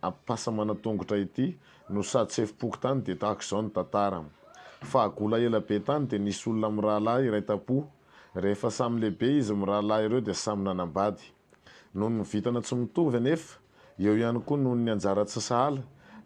Ampitasa manatongotra ity no sady sefom-pokontany dia tahaka izao ny tantara. Fahagola ela be tany dia nisy olona mirahalahy iray tam-po. Rehefa samy lehibe izy mirahalahy ireo dia samy nanambady. Noho ny vintana tsy mitovy anefa, eo ihany koa noho ny anjara tsy sahala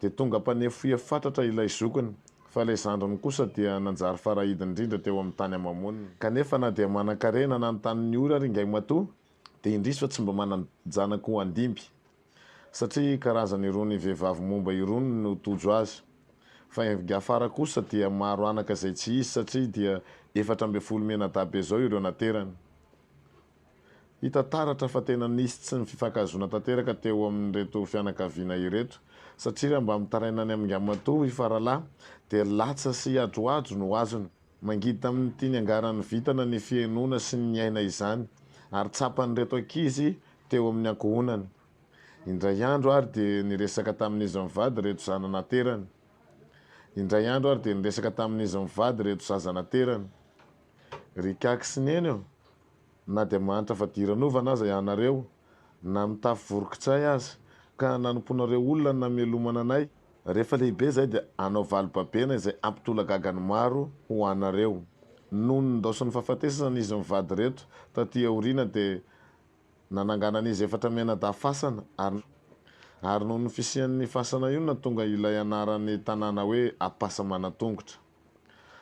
dia tonga mpanefohehy fatratra ilay zokiny fa ilay zandriny kosa dia nanjary farahidy indrindra teo amin'ny tany ama-moniny. Kanefa na dia manan-karena nanontany ny ora ary Ingaimatoa dia indrisy fa tsy mba manan-janaka ho handimby. Satria karazana irony vehivavy momba irony no tojo azy. Fa envg afara kosa dia maro anaka izay tsy hisy satria dia efatra ambin'ny folo mianadahy-be izao ireo naterany. Hita taratra fa tena nisy tsy ny fifankahazoana tanteraka teo amin'ireto fianakaviana ireto satria raha mba mitaraina any amin'ngamatoa i Faralahy dia latsa sy adroadro no azony. Mangidy tamin'ity niangaran'ny vintana ny fihenoana sy ny niaina izany ary tsapan'ireto ankizy teo amin'ny ankohonany. Indray andro ary dia niresaka tamin'izy mivady ireto zana naterany. Indray andro ary dia niresaka tamin'izy mivady ireto zaza naterany. Ry Kaky sy Neny ô, na dia mahantra fadiranovana aza ianareo na mitafy vorokitsay aza, ka nanompoana ireo olona namelomana anay. Rehefa lehibe izahay dia hanao vali-babena izay hampitolagaga ny maro ho anareo. Nony nindaosin'ny fahafatesana izy mivady ireto taty aoriana dia nanangana an'izy efatra mianadahy fasana ary ary noho ny fisian'ny fasana io no nahatonga ilay anaran'ny tanàna hoe Ampasamanantongotra.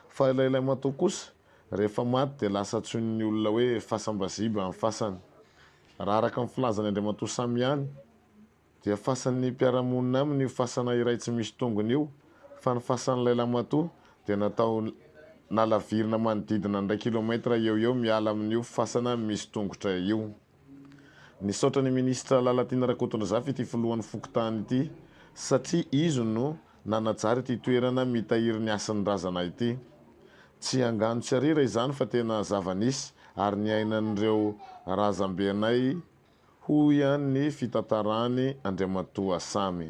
Fa ilay ilay matoa kosa rehefa maty dia lasa antsoin'ny olona hoe fasambaziba ny fasany. Raha araka ny filazan'i Andriamatoa Samy ihany dia fasan'ny mpiara-monina aminy io fasana iray tsy misy tongony io fa ny fasan'ilay lamatoa dia natao nalavirina manodidina ny iray kilomètre eo eo miala amin'io fasana misy tongotra io. Nisaotra ny Minisitra Lalatiana Rakotondrazafy ity Filohan'ny Fokontany ity satria izy no nanajary ity toerana mitahiry ny hasin'ny razana ity. Tsy angano tsy arira izany fa tena zava-nisy ary niainan'ireo razambenay, hoy ihany ny fitantarany Andriamatoa Samy.